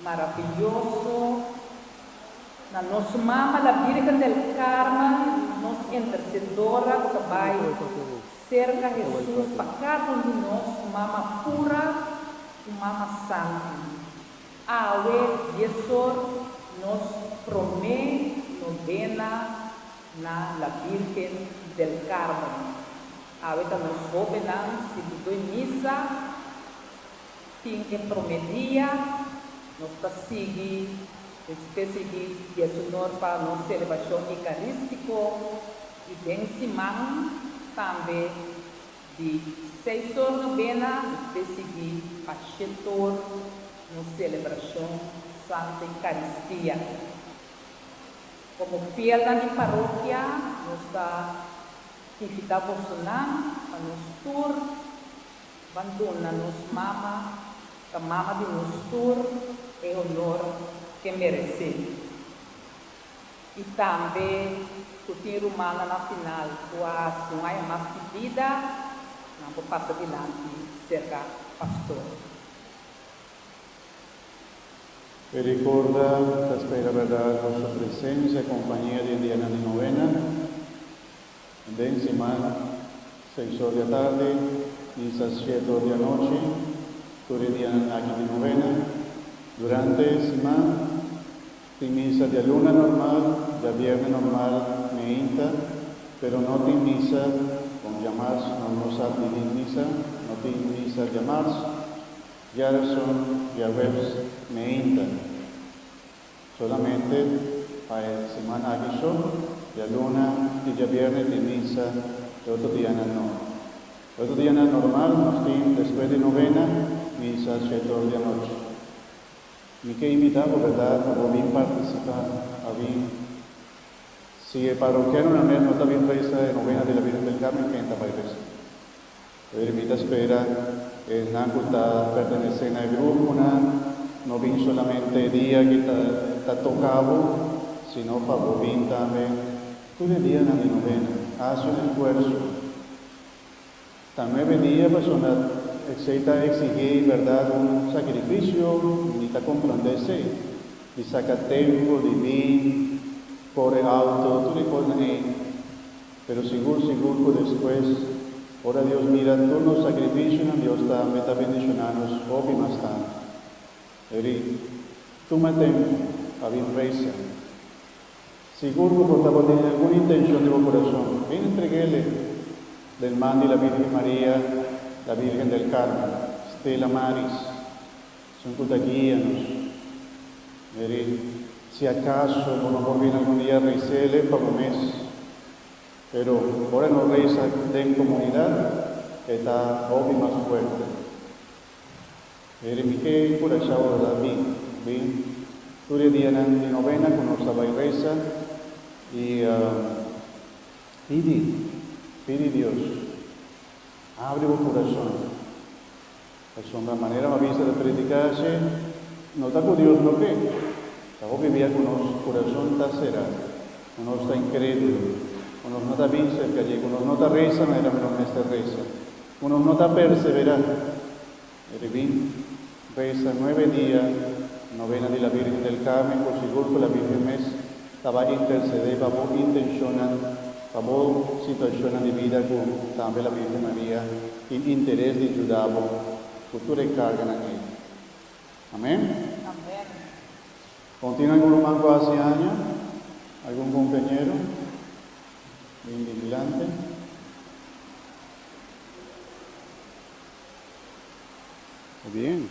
Marabiyoso, na nos Mama la Virgen del Carmen, nos Intercedora cu ta bay cerca Hesus pa cada un di nos, Mama pura cu Mama santi. Awe, diezor, nos prome novena na la Virgen del Carmen. Awe ta nos hobennan sintido e misa. Tin e prome dia, nos ta sigui un specie di dieshonor pa nos celebracion Eucaristico y den siman tambe di seis or novena despues sigui pa shet or nos celebracion Santa Eucaristia. Como fielnan di parokia nos ta invita bosonan pa nos tur. Ban duna nos mama ta mama di nos tur e honor ke meresé. I tambe ku tin rumannan na final ku a hasi un aña mas di bida, nan por pasa dilanti serka pastor. E rikorda ta spera berdad boso presensia, kompania den dianan di novena. En den simana, seis or di atardi bisa siete or di anochi, tur e dianan aki di novena. Durante e siman tin misa dialuna normal, diabierne normal meinta, pero no tin misa kon diamars, no nos sa didi misa, no tin misa diamars, diareson, diahuebs meinta. Solamente pa e semana aki so, dialuna ti diabièrnè tin misa e otro dianan no. E otro dianan normal nos tin despues di novena misa shete or di anochi. Mi ke invitá bo berdad pa bo bin partisipá, pa bin. Si e parokianonan mes no ta bin resa e novena di la Virgen del Carmen kende ta bai resa? Oye, mi ta spera esnan cu ta pertenece na e gruponan no bin solamente e dia cu ta toca bo, sino pa bo bin tambe tur e dianan di novena. Haci un esfuerzo. Ta nuebe dia pasobra esey ta exigí berdad un sacrificio y mi ta comprende esey, di saca tempo, di bin, core auto, tur e cosnan ey. Pero sigur sigur cu despues, ora Dios mira tur nos sacrificionan, Dios ta meta bendiciona nos hopi mas tantu. Eri tuma tempu pa bin reza. Sigur cu bo tabata den algun intencion den bo curason, bin entreg'ele den man di la Virgen Maria, la Virgen del Carmen, Stella Maris. Esun cu ta guia nos. Meri, si acaso bo no por bini algun dia reisele pa bo mes. Pero ora e no reisa den comunidad, e ta hopi mas fuerte. Meri, mi ke encurashao lo ta bin, bin tur e dianan di novena cu nos ta bay reisa y pidi, pidi Dios, abri bo curason. Pasobra manera mi a bisa ta prediká así, no ta ku Dios lo ke. Ta hopi bia ku nos kurason ta será, ku nos ta inkrédulo, ku nos no ta bin serka dje, ku nos no ta resa manera mi lo mester resa, ku nos no ta perseverá. E ribin resa nuebe dia, Novena di la Virgen del Carmen, ku sigur ku la Virgen mes, Ta bay intercedé pa bo intencionnan, pa bo situacionnan di bida cu tambe la Virgen Maria tin interes di juda bo cu tur e carganan ey. Amen. Con tin algun ruman cu haci aña? Algun compañero? Bin di dilanti. Ta bien.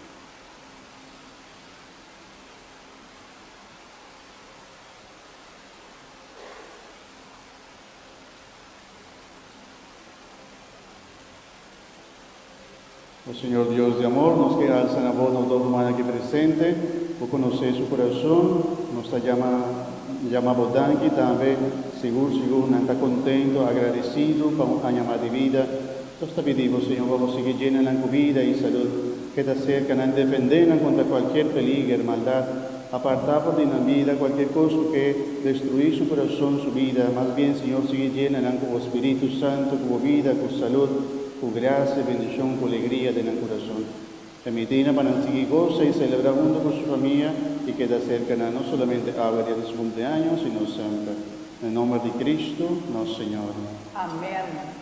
O Señor Dios di amor, nos ke alsa na Bo nos dos humannan aki presente. Bo konosé su kurason. Nos ta jama jama Bo danki tambe. Sigur sigur nan ta kontento, agradesido pa un aña mas di bida. Nos ta pidi bo, Señor, pa bo sigui djena nan cu bida y salud, ke ta cerca nan, defende nan contra cualkier peliger, maldad, aparta for di nan bida cualkier cos cu ke destrui su corazon, su bida, mas bien, Señor, sigui djena nan cu bo Spiritu Santo, cu bo bida, cu salud, cu gracia, bendicion, cu alegria den nan corazon. Permiti nan pa nan sigui goza y celebra hunto cu su famia y keda cerca nan, no solamente awe dia di su cumpleaño, sino semper. Na nomber di Cristo, nos Señor. Amen.